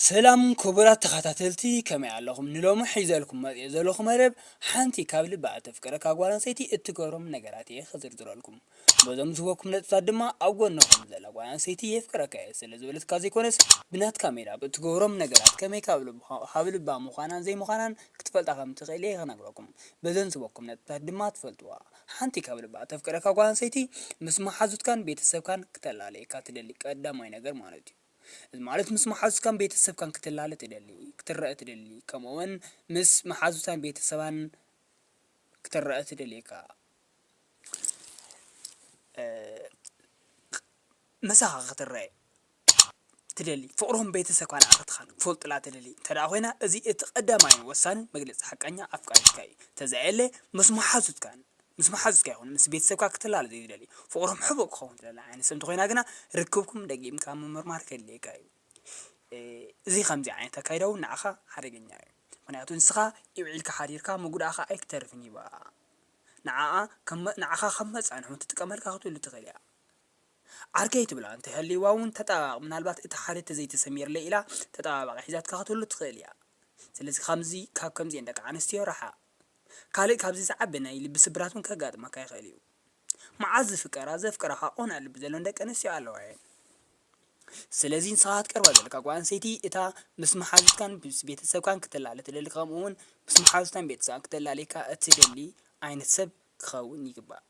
ሰላም ክቡራት ተኸታተልቲ ከመይ ኣለኹም? ንሎሚ ሒዘልኩም መጺኤ ዘለኹ መደብ ሓንቲ ካብ ልባ እተፍቅረካ ጓል ኣንስተይቲ እትገብሮም ነገራት እየ ክዝርዝረልኩም። በዞም ዝህበኩም ነጥብታት ድማ ኣብ ጎንኹም ዘላ ጓል ኣንስተይቲ የፍቅረካ እየ ስለ ዝበለትካ ዘይኮነስ ብናትካ ሜላ ኣብ እትገብሮም ነገራት ከመይ ካብ ልብኻ ካብ ልባ ምዃናን ዘይምዃናን ክትፈልጣ ከም እትኽእል እየ ክነግረኩም። በዘን ዝህበኩም ነጥብታት ድማ ትፈልጥዋ። ሓንቲ ካብ ልባ እተፍቅረካ ጓል ኣንስተይቲ ምስ መሓዙትካን ቤተሰብካን ክተላለየካ ትደሊ ቀዳማይ ነገር ማለት እዩ። እዚ ማለት ምስ መሓዙትካን ቤተሰብካን ክትላለ ትደሊ፣ ክትረኣ ትደሊ፣ ከምኡውን ምስ መሓዙታን ቤተሰባን ክትረኣ ትደልየካ። ምሳኻ ክትረኤ ትደሊ ፍቕሮም ቤተሰብካ ንኣኻትኻን ክፈልጡላ ትደሊ እንተድኣ ኮይና እዚ እቲ ቀዳማይን ወሳንን መግለጺ ሓቀኛ ኣፍቃሪትካ እዩ እንተዘየለ ምስ መሓዙትካን ምስ መሓዙትካ ይኹን ምስ ቤተሰብካ ክትላለ ዘይትደሊ ፍቕሮም ሕቡእ ክኸውን ትደሊ ዓይነት ሰብ እንተኾይና ግና ርክብኩም ደጊምካ ምምርማር ከድልየካ እዩ እዚ ከምዚ ዓይነት ኣካይዳ እውን ንዓኻ ሓደገኛ እዩ ምክንያቱ ንስኻ ኢውዒልካ ሓዲርካ ምጉዳእካ ኣይክተርፍን ይባ ንዓኣ ንዓኻ ከም መጻንሒ እውን ትጥቀመልካ ክትህሉ ትኽእል እያ ዓርከይ ትብላ እንተ ሃልይዋ ውን ተጣባባቒ ምናልባት እቲ ሓደ ተዘይ ተሰሚርለይ ኢላ ተጣባባቒ ሒዛትካ ክትህሉ ትኽእል ኢያ ስለዚ ካምዚ ካብ ከምዚኤን ደቂ ኣንስትዮ ራሓቕ ካልእ ካብዚ ዝዓቢ ናይ ልቢ ስብራት ውን ከጋጥመካ ይኽእል ኢዩ ማዓዝ ዝፍቀራ ዘፍቅራኻ ቁኑዕ ልቢ ዘሎን ደቂ ኣንስትዮ ኣለዋ ኢየን ስለዚ ንስኻ ክትቀርባ ዘለካ ጓል ኣንስተይቲ እታ ምስ ማሓዙትካን ምስ ቤተሰብካን ክትላለ ትደሊ ከምኡ ውን ምስ ማሓዙታን ቤተሰባን ክትላልየካ እትደሊ ዓይነት ሰብ ክኸውን ይግባእ።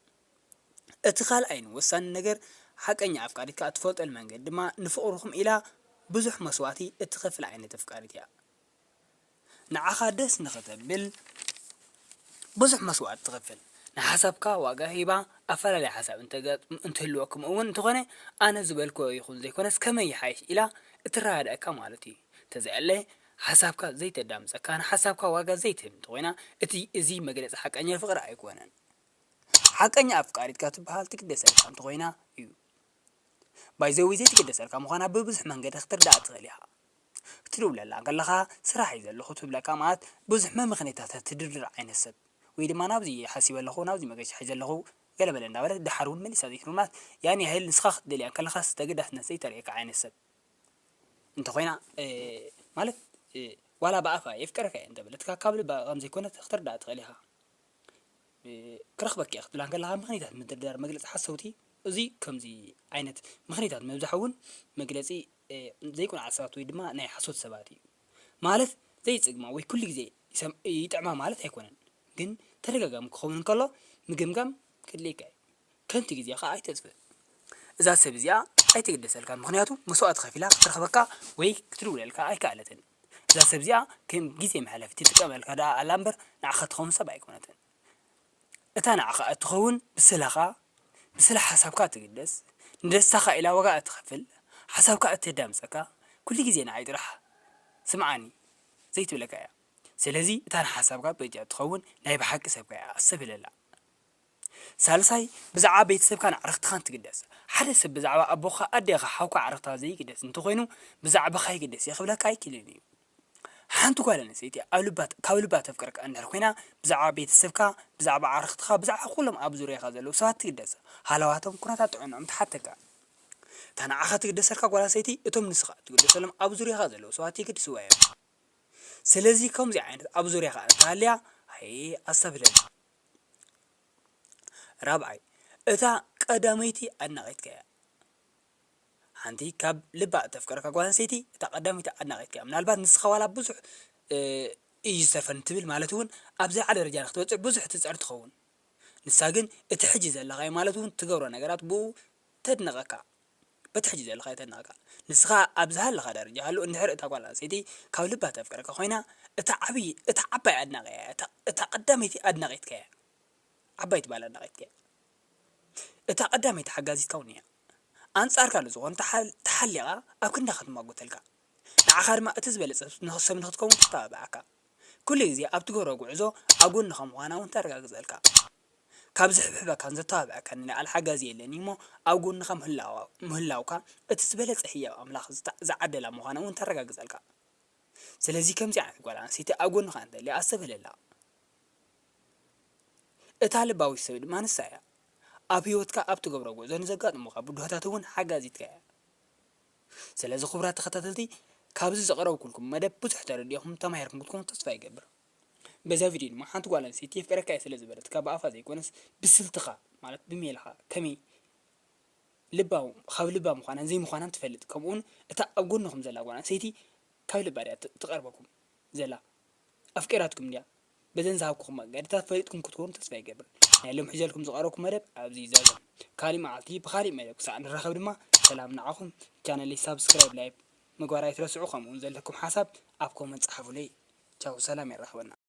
እቲ ካልኣይን ወሳኒን ነገር ሓቀኛ ኣፍቃሪትካ እትፈልጠሉ መንገዲ ድማ ንፍቕርኹም ኢላ ብዙሕ መስዋእቲ እትኸፍል ዓይነት ኣፍቃሪት እያ። ንዓኻ ደስ ንኽተብል ብዙሕ መስዋእቲ ትኸፍል፣ ንሓሳብካ ዋጋ ሂባ፣ ኣፈላላይ ሓሳብ እንተጋጥም እንትህልዎ ከምኡ'ውን እንተኾነ ኣነ ዝበልክዎ ይኹን ዘይኮነስ ከመይ ይሓይሽ ኢላ እትረዳድኣካ ማለት እዩ። እንተዘየለ ሓሳብካ ዘይተዳምጸካን ሓሳብካ ዋጋ ዘይትህብን እንተኾይና እቲ እዚ መግለጺ ሓቀኛ ፍቕሪ ኣይኮነን። ሓቀኛ ኣፍቃሪትካ ትበሃል ትግደሰልካ እንተኾይና እዩ ባይ ዘ ዌይ ዘይትግደሰልካ ምዃና ብብዙሕ መንገዲ ክትርድኣ ትኽእል ኢኻ ክትድውለላ ከለኻ ስራሕ እዩ ዘለኹ ትብለካ ማለት ብዙሕ መመኽነይታታት ትድርድር ዓይነት ሰብ ወይ ድማ ናብዚ ሓሲበ ኣለኹ ናብዚ መገሻ ሒዘ ኣለኹ ገለ በለ እንዳበለት ደሓር እውን መሊሳ ዘይትብል ማለት ያን ያህል ንስኻ ክትደልያ እንከለኻስ ተገዳስነት ዘይተርእየካ ዓይነት ሰብ እንተኾይና ማለት ዋላ ብኣፋ የፍቅረካ እየ እንተበለትካ ካብ ልባ ከምዘይኮነት ክትርዳእ ትኽእል ኢኻ ክረኽበኪ እየ ክትብላ እንከለኻ ምኽንይታት ምድርዳር መግለጺ ሓሰውቲ እዚ ከምዚ ዓይነት ምኽንይታት ምብዛሕ እውን መግለጺ ዘይቁንዓት ሰባት ወይ ድማ ናይ ሓሶት ሰባት እዩ ማለት ዘይጽግማ ወይ ኩሉ ግዜ ይጥዕማ ማለት ኣይኮነን ግን ተደጋጋሚ ክኸውን እንከሎ ምግምጋም ክድልየካ እዩ ከንቲ ግዜኻ ኣይተጥፍእ እዛ ሰብ እዚኣ ኣይትግደሰልካ ምኽንያቱ መስዋእቲ ከፊላ ክትረኽበካ ወይ ክትድውለልካ ኣይከኣለትን እዛ ሰብ እዚኣ ከም ግዜ መሕለፊት ትጥቀመልካ ደኣ ኣላ እምበር ንዓኻ እትኸውን ሰብ ኣይኮነትን። እታ ንዓኻ እትኸውን ብስለኻ፣ ብስለ ሓሳብካ እትግደስ፣ ንደስታኻ ኢላ ዋጋ እትኸፍል፣ ሓሳብካ እተዳምጸካ፣ ኩሉ ግዜ ንዓይ ጥራሕ ስምዓኒ ዘይትብለካ እያ። ስለዚ እታ ንሓሳብካ በጃ እትኸውን ናይ ብሓቂ ሰብካ እያ ኣስተብህለላ። ሳልሳይ፣ ብዛዕባ ቤተሰብካን ኣዕርኽትኻን ትግደስ። ሓደ ሰብ ብዛዕባ ኣቦኻ፣ ኣዴኻ፣ ሓውካ፣ ኣዕርኽትኻ ዘይግደስ እንተኾይኑ ብዛዕባኻ ይግደስ እየ ክብለካ ኣይክእልን እዩ። ሓንቲ ጓል ኣንስተይቲ ኣብ ልባ ካብ ልባ ተፍቅረካ እንድሕር ኮይና ብዛዕባ ቤተሰብካ፣ ብዛዕባ ኣዕርኽትኻ፣ ብዛዕባ ኩሎም ኣብ ዙርያኻ ዘለዉ ሰባት ትግደስ። ሃለዋቶም፣ ኩነታት ጥዕንኦም ትሓተካ። እታ ንዓኻ ትግደሰልካ ጓል ኣንስተይቲ እቶም ንስኻ እትግደሰሎም ኣብ ዙርያኻ ዘለዉ ሰባት የገድስዋ እዮም። ስለዚ ከምዚ ዓይነት ኣብ ዙርያኻ እንተሃልያ ሃየ ኣስተብህለላ። ራብዓይ፣ እታ ቀዳመይቲ ኣድናቒትካ እያ። ሓንቲ ካብ ልባ እተፍቅረካ ጓል ኣንስተይቲ እታ ቀዳመይቲ ኣድናቒትካ እያ። ምናልባት ንስኻ ዋላ ብዙሕ እዩ ዝተርፈኒ ትብል ማለት እውን ኣብ ዝለዓለ ደረጃ ንክትበጽሕ ብዙሕ ትጽዕር ትኸውን። ንሳ ግን እቲ ሕጂ ዘለኻዮ ማለት እውን ትገብሮ ነገራት ብእኡ ተድንቐካ። በቲ ሕጂ ዘለኻዮ ተነቓቃል። ንስኻ ኣብ ዝሃለኻ ደረጃ ሃሉ እንድሕር እታ ጓል ኣንስተይቲ ካብ ልባ ተፍቅረካ ኮይና እታ ዓብይ እታ ዓባይ ኣድናቒኣ እያ እታ እታ ቀዳመይቲ ኣድናቒትካ እያ ዓባይቲ ባል ኣድናቒትካ እያ እታ ቀዳመይቲ ሓጋዚትካ ውን እያ ኣንጻርካ ንዝኾኑ ተሓል ተሓሊቓ ኣብ ክንዳ ክትማጎተልካ ንዓኻ ድማ እቲ ዝበለጸ ሰብ ንኽትከውን ትተባብዓካ ኩሉ ግዜ ኣብ ትገብሮ ጉዕዞ ኣብ ጎንኻ ምዃና ውን ተረጋግጸልካ ካብ ዝሕብሕበካን ዘተባብዐካን ልዕሊ ሓጋዚ የለን እዩሞ ኣብ ጎንኻ ምህላውካ እቲ ዝበለጸ ህያብ ኣምላኽ ዝዓደላ ምዃና እውን ተረጋግጸልካ ስለዚ ከምዚ ዓይነት ጓል ኣንስተይቲ ኣብ ጎንኻ እንተልያ ኣስተብህለላ እታ ልባዊት ሰብ ድማ ንሳ እያ ኣብ ህይወትካ ኣብ ትገብሮ ጉዕዞ ንዘጋጥሙኻ ብድሆታት እውን ሓጋዚትካ እያ ስለዚ ክቡራት ተኸታተልቲ ካብዚ ዘቕረብኩልኩም መደብ ብዙሕ ተረዲእኹም ተማሂርኩም ክትኮኑ ተስፋ ይገብር በዛ ቪድዮ ድማ ሓንቲ ጓል ኣንስተይቲ የፍቅረካ'የ ስለ ዝበለትካ ብኣፋ ዘይኮነስ ብስልትኻ ማለት ብሜላኻ ከመይ ልባ ካብ ልባ ምዃናን ዘይምዃናን ትፈልጥ ከምኡ'ውን እታ ኣብ ጎንኹም ዘላ ጓል ኣንስተይቲ ካብ ልባ ድያ ትቐርበኩም ዘላ ኣፍቂራትኩም ድያ በዘን ዝሃብኩኹም መገድታት ፈሊጥኩም ክትኮኑ ተስፋ ይገብር ናይ ሎም ሕጀልኩም ዝቐረብኩ መደብ ኣብዚ ይዛዘም ካሊእ መዓልቲ ብኻሊእ መደብ ክሳዕ ንራኸብ ድማ ሰላም ንዓኹም ቻነለይ ሳብስክራይብ ላይክ ምግባር ኣይትረስዑ ከምኡውን ዘለኩም ሓሳብ ኣብ ኮመንት ጸሓፉለይ ቻው ሰላም የራክበና።